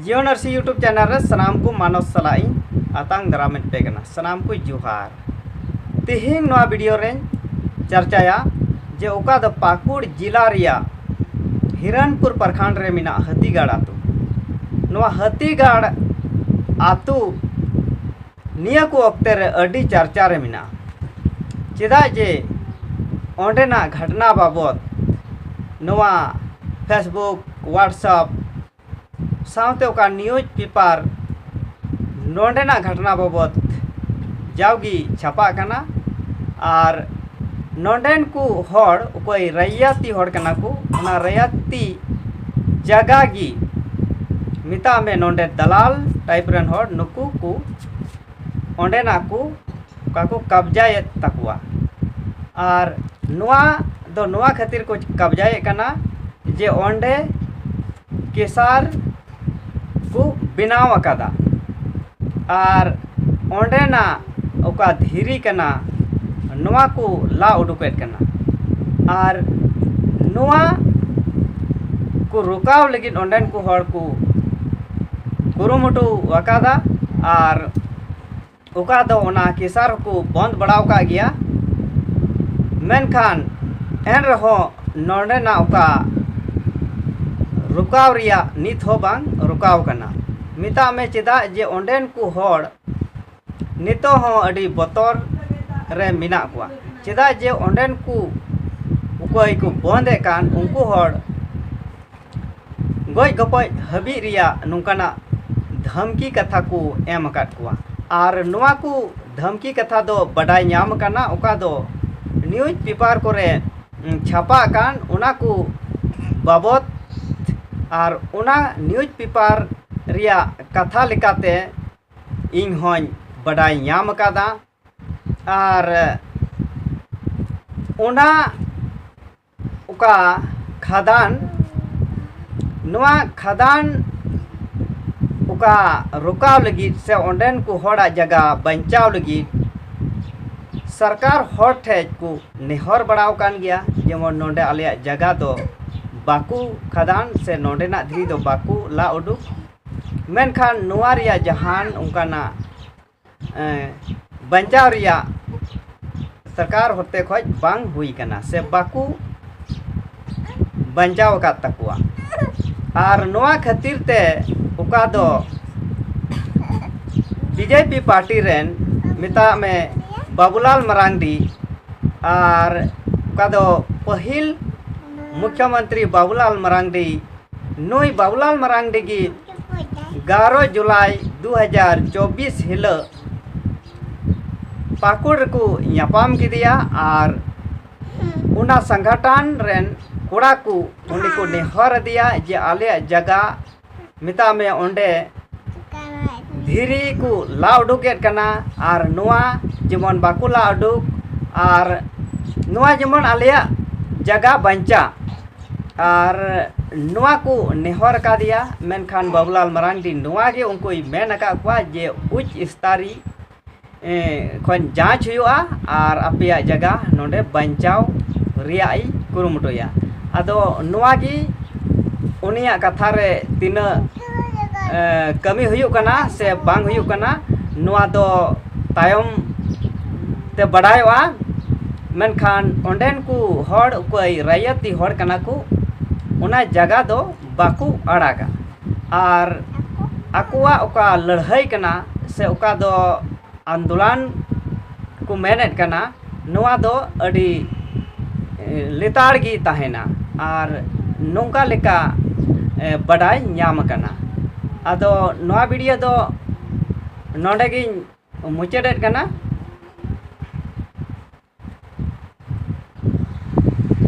ᱡᱤᱭᱳ ᱱᱟᱨᱥᱤ YouTube channel ᱨᱮ ᱥᱟᱱᱟᱢ ᱠᱚ ᱢᱟᱱᱚᱥ ᱥᱟᱞᱟᱜ ᱤᱧ ᱟᱛᱟᱝ ᱫᱟᱨᱟᱢᱮᱫ ᱯᱮ ᱠᱟᱱᱟ ᱥᱟᱱᱟᱢ ᱠᱚ ᱡᱚᱦᱟᱨ ᱛᱮᱦᱮᱧ ᱱᱚᱣᱟ ᱵᱷᱤᱰᱤᱭᱳ ᱨᱮᱧ ᱪᱟᱨᱪᱟᱭᱟ ᱡᱮ ᱚᱠᱟ ᱫᱚ ᱯᱟᱹᱠᱩᱲ ᱡᱮᱞᱟ ᱨᱮᱭᱟᱜ ᱦᱤᱨᱟᱱᱯᱩᱨ ᱯᱨᱚᱠᱷᱚᱸᱰ ᱨᱮ ᱢᱮᱱᱟᱜ ᱦᱟᱹᱛᱤᱜᱟᱲ ᱟᱛᱳ ᱱᱚᱣᱟ ᱦᱟᱹᱛᱤᱜᱟᱲ ᱟᱛᱳ ᱱᱤᱭᱟᱹ ᱠᱚ ᱚᱠᱛᱮ ᱨᱮ ᱟᱹᱰᱤ ᱪᱟᱨᱪᱟ ᱨᱮ ᱢᱮᱱᱟᱜᱼᱟ ᱪᱮᱫᱟᱜ ᱡᱮ ᱚᱸᱰᱮᱱᱟᱜ ᱜᱷᱟᱴᱱᱟ ᱵᱟᱵᱚᱫ ᱱᱚᱣᱟ ᱯᱷᱮᱥᱵᱩᱠ ᱦᱳᱣᱟᱴᱥᱮᱯ ᱥᱟᱶᱛᱮ ᱚᱠᱟ ᱱᱤᱭᱩᱡᱽ ᱯᱮᱯᱟᱨ ᱱᱚᱸᱰᱮᱱᱟᱜ ᱜᱷᱟᱴᱱᱟ ᱵᱟᱵᱚᱫ ᱡᱟᱣᱜᱮ ᱪᱷᱟᱯᱟᱜ ᱠᱟᱱᱟ ᱟᱨ ᱱᱚᱰᱮᱱ ᱠᱚ ᱦᱚᱲ ᱚᱠᱚᱭ ᱨᱟᱭᱟᱛᱤ ᱦᱚᱲ ᱠᱟᱱᱟ ᱠᱚ ᱚᱱᱟ ᱨᱟᱭᱟᱛᱤ ᱡᱟᱭᱜᱟ ᱜᱮ ᱢᱮᱛᱟᱜ ᱢᱮ ᱱᱚᱰᱮ ᱫᱟᱞᱟᱞ ᱴᱟᱭᱤᱯ ᱨᱮᱱ ᱦᱚᱲ ᱱᱩᱠᱩ ᱠᱚ ᱚᱸᱰᱮᱱᱟᱜ ᱠᱚ ᱚᱠᱟ ᱠᱚ ᱠᱟᱵᱽᱡᱟᱭᱮᱫ ᱛᱟᱠᱚᱣᱟ ᱟᱨ ᱱᱚᱣᱟ ᱫᱚ ᱱᱚᱣᱟ ᱠᱷᱟᱹᱛᱤᱨ ᱠᱚ ᱠᱟᱵᱽᱡᱟᱭᱮᱫ ᱠᱟᱱᱟ ᱡᱮ ᱚᱸᱰᱮ ᱠᱮᱥᱟᱨ ᱠᱚ ᱵᱮᱱᱟᱣ ᱟᱠᱟᱫᱟ ᱟᱨ ᱚᱸᱰᱮᱱᱟᱜ ᱚᱠᱟ ᱫᱷᱤᱨᱤ ᱠᱟᱱᱟ ᱱᱚᱣᱟ ᱠᱚ ᱞᱟ ᱩᱰᱩᱠᱮᱫ ᱠᱟᱱᱟ ᱟᱨ ᱱᱚᱣᱟ ᱠᱚ ᱨᱚᱠᱟᱣ ᱞᱟᱹᱜᱤᱫ ᱚᱸᱰᱮᱱ ᱠᱚ ᱦᱚᱲ ᱠᱚ ᱠᱩᱨᱩᱢᱩᱴᱩ ᱟᱠᱟᱫᱟ ᱟᱨ ᱚᱠᱟ ᱫᱚ ᱚᱱᱟ ᱠᱮᱥᱟᱨ ᱦᱚᱸᱠᱚ ᱵᱚᱱᱫ ᱵᱟᱲᱟ ᱟᱠᱟᱫ ᱜᱮᱭᱟ ᱢᱮᱱᱠᱷᱟᱱ ᱮᱱ ᱨᱮᱦᱚᱸ ᱱᱚᱰᱮᱱᱟᱜ ᱚᱠᱟ ᱨᱩᱠᱟᱣ ᱨᱮᱭᱟᱜ ᱱᱤᱛ ᱦᱚᱸ ᱵᱟᱝ ᱨᱩᱠᱟᱣ ᱠᱟᱱᱟ ᱢᱮᱛᱟᱜ ᱢᱮ ᱪᱮᱫᱟᱜ ᱡᱮ ᱚᱸᱰᱮᱱ ᱠᱚ ᱦᱚᱲ ᱱᱤᱛᱚᱜ ᱦᱚᱸ ᱟᱹᱰᱤ ᱵᱚᱛᱚᱨ ᱨᱮ ᱢᱮᱱᱟᱜ ᱠᱚᱣᱟ ᱪᱮᱫᱟᱜ ᱡᱮ ᱚᱸᱰᱮᱱ ᱠᱚ ᱚᱠᱚᱭ ᱠᱚ ᱵᱚᱱᱫᱮᱫ ᱠᱟᱱ ᱩᱱᱠᱩ ᱦᱚᱲ ᱜᱚᱡ ᱜᱚᱯᱚᱡ ᱦᱟᱹᱵᱤᱡ ᱨᱮᱭᱟᱜ ᱱᱚᱝᱠᱟᱱᱟᱜ ᱫᱷᱟᱢᱠᱤ ᱠᱟᱛᱷᱟ ᱠᱚ ᱮᱢ ᱟᱠᱟᱫ ᱠᱚᱣᱟ ᱟᱨ ᱱᱚᱣᱟ ᱠᱚ ᱫᱷᱟᱢᱠᱤ ᱠᱟᱛᱷᱟ ᱫᱚ ᱵᱟᱰᱟᱭ ᱧᱟᱢ ᱟᱠᱟᱱᱟ ᱚᱠᱟ ᱫᱚ ᱱᱤᱭᱩᱡᱽ ᱯᱮᱯᱟᱨ ᱠᱚᱨᱮ ᱪᱷᱟᱯᱟ ᱟᱠᱟᱱ ᱚᱱᱟ ᱠᱚ ᱵᱟᱵᱚᱫ ᱟᱨ ᱚᱱᱟ ᱱᱤᱭᱩᱡᱽ ᱯᱮᱯᱟᱨ ᱨᱮᱭᱟᱜ ᱠᱟᱛᱷᱟ ᱞᱮᱠᱟᱛᱮ ᱤᱧ ᱦᱚᱸᱧ ᱵᱟᱰᱟᱭ ᱧᱟᱢ ᱟᱠᱟᱫᱟ ᱟᱨ ᱚᱱᱟ ᱚᱠᱟ ᱠᱷᱟᱫᱟᱱ ᱱᱚᱣᱟ ᱠᱷᱟᱫᱟᱱ ᱚᱠᱟ ᱨᱚᱠᱟᱣ ᱞᱟᱹᱜᱤᱫ ᱥᱮ ᱚᱸᱰᱮᱱ ᱠᱚ ᱦᱚᱲᱟᱜ ᱡᱟᱭᱜᱟ ᱵᱟᱧᱪᱟᱣ ᱞᱟᱹᱜᱤᱫ ᱥᱚᱨᱠᱟᱨ ᱦᱚᱲ ᱴᱷᱮᱱ ᱠᱚ ᱱᱮᱦᱚᱨ ᱵᱟᱲᱟ ᱟᱠᱟᱱ ᱜᱮᱭᱟ ᱡᱮᱢᱚᱱ ᱱᱚᱰᱮ ᱟᱞᱮᱭᱟᱜ ᱡᱟᱭᱜᱟ ᱫᱚ ᱵᱟᱠᱚ ᱠᱷᱟᱫᱟᱱ ᱥᱮ ᱱᱚᱰᱮᱱᱟᱜ ᱫᱷᱤᱨᱤ ᱫᱚ ᱵᱟᱠᱚ ᱞᱟ ᱩᱰᱩᱠ ᱢᱮᱱᱠᱷᱟᱱ ᱱᱚᱣᱟ ᱨᱮᱭᱟᱜ ᱡᱟᱦᱟᱱ ᱚᱱᱠᱟᱱᱟᱜ ᱵᱟᱧᱪᱟᱣ ᱨᱮᱭᱟᱜ ᱥᱚᱨᱠᱟᱨ ᱦᱚᱛᱮ ᱠᱷᱚᱱ ᱵᱟᱝ ᱦᱩᱭ ᱠᱟᱱᱟ ᱥᱮ ᱵᱟᱠᱚ ᱵᱟᱧᱪᱟᱣ ᱟᱠᱟᱫ ᱛᱟᱠᱚᱣᱟ ᱟᱨ ᱱᱚᱣᱟ ᱠᱷᱟᱹᱛᱤᱨ ᱛᱮ ᱚᱠᱟ ᱫᱚ ᱵᱤᱡᱮᱯᱤ ᱯᱟᱨᱴᱤ ᱨᱮᱱ ᱢᱮᱛᱟᱜ ᱢᱮ ᱵᱟᱵᱩᱞᱟᱞ ᱢᱟᱨᱟᱱᱰᱤ ᱟᱨ ᱚᱠᱟ ᱫᱚ ᱯᱟᱹᱦᱤᱞ ᱢᱩᱠᱷᱭᱚ ᱢᱚᱱᱛᱨᱤ ᱵᱟᱵᱩᱞᱟᱞ ᱢᱟᱨᱟᱱᱰᱤ ᱱᱩᱭ ᱵᱟᱵᱩᱞᱟᱞ ᱢᱟᱨᱟᱱᱰᱤ ᱜᱮ ᱜᱟᱨᱚ ᱡᱩᱞᱟᱭ ᱫᱩ ᱦᱟᱡᱟᱨ ᱪᱚᱵᱽᱵᱤᱥ ᱦᱤᱞᱟᱹᱜ ᱯᱟᱠᱩᱲ ᱨᱮᱠᱚ ᱧᱟᱯᱟᱢ ᱠᱮᱫᱮᱭᱟ ᱟᱨ ᱚᱱᱟ ᱥᱟᱝᱜᱟᱴᱟᱱ ᱨᱮᱱ ᱠᱚᱲᱟ ᱠᱚ ᱩᱱᱤ ᱠᱚ ᱱᱮᱦᱚᱨ ᱟᱫᱮᱭᱟ ᱡᱮ ᱟᱞᱮᱭᱟᱜ ᱡᱟᱜᱟ ᱢᱮᱛᱟᱜ ᱢᱮ ᱚᱸᱰᱮ ᱫᱷᱤᱨᱤ ᱠᱚ ᱞᱟ ᱩᱰᱩᱠᱮᱫ ᱠᱟᱱᱟ ᱟᱨ ᱱᱚᱣᱟ ᱡᱮᱢᱚᱱ ᱵᱟᱠᱚ ᱞᱟ ᱩᱰᱩᱠ ᱟᱨ ᱱᱚᱣᱟ ᱡᱮᱢᱚᱱ ᱟᱞᱮᱭᱟᱜ ᱡᱟᱜᱟ ᱵᱟᱧᱪᱟᱜ ᱟᱨ ᱱᱚᱣᱟ ᱠᱚ ᱱᱮᱦᱚᱨ ᱠᱟᱣᱫᱮᱭᱟ ᱢᱮᱱᱠᱷᱟᱱ ᱵᱟᱹᱵᱩᱞᱟᱞ ᱢᱟᱨᱟᱱᱰᱤ ᱱᱚᱣᱟ ᱜᱮ ᱩᱱᱠᱩᱭ ᱢᱮᱱ ᱟᱠᱟᱫ ᱠᱚᱣᱟ ᱡᱮ ᱩᱪ ᱥᱛᱟᱨᱤ ᱠᱷᱚᱱ ᱡᱟᱸᱪ ᱦᱩᱭᱩᱜᱼᱟ ᱟᱨ ᱟᱯᱮᱭᱟᱜ ᱡᱟᱭᱜᱟ ᱱᱚᱰᱮ ᱵᱟᱧᱪᱟᱣ ᱨᱮᱭᱟᱜ ᱤᱧ ᱠᱩᱨᱩᱢᱩᱴᱩᱭᱟ ᱟᱫᱚ ᱱᱚᱣᱟ ᱜᱮ ᱩᱱᱤᱭᱟᱜ ᱠᱟᱛᱷᱟ ᱨᱮ ᱛᱤᱱᱟᱹᱜ ᱠᱟᱹᱢᱤ ᱦᱩᱭᱩᱜ ᱠᱟᱱᱟ ᱥᱮ ᱵᱟᱝ ᱦᱩᱭᱩᱜ ᱠᱟᱱᱟ ᱱᱚᱣᱟ ᱫᱚ ᱛᱟᱭᱚᱢ ᱛᱮ ᱵᱟᱰᱟᱭᱚᱜᱼᱟ ᱢᱮᱱᱠᱷᱟᱱ ᱚᱸᱰᱮᱱ ᱠᱚ ᱦᱚᱲ ᱚᱠᱚᱭ ᱨᱟᱭᱟᱛᱤ ᱦᱚᱲ ᱠᱟᱱᱟ ᱠᱚ ᱚᱱᱟ ᱡᱟᱭᱜᱟ ᱫᱚ ᱵᱟᱠᱚ ᱟᱲᱟᱜᱟ ᱟᱨ ᱟᱠᱚᱣᱟᱜ ᱚᱠᱟ ᱞᱟᱹᱲᱦᱟᱹᱭ ᱠᱟᱱᱟ ᱥᱮ ᱚᱠᱟ ᱫᱚ ᱟᱱᱫᱳᱞᱚᱱ ᱠᱚ ᱢᱮᱱᱮᱫ ᱠᱟᱱᱟ ᱱᱚᱣᱟ ᱫᱚ ᱟᱹᱰᱤ ᱞᱮᱛᱟᱲ ᱜᱮ ᱛᱟᱦᱮᱱᱟ ᱟᱨ ᱱᱚᱝᱠᱟ ᱞᱮᱠᱟ ᱵᱟᱰᱟᱭ ᱧᱟᱢ ᱠᱟᱱᱟ ᱟᱫᱚ ᱱᱚᱣᱟ ᱵᱷᱤᱰᱭᱳ ᱫᱚ ᱱᱚᱰᱮ ᱜᱤᱧ ᱢᱩᱪᱟᱹᱫᱮᱫ ᱠᱟᱱᱟ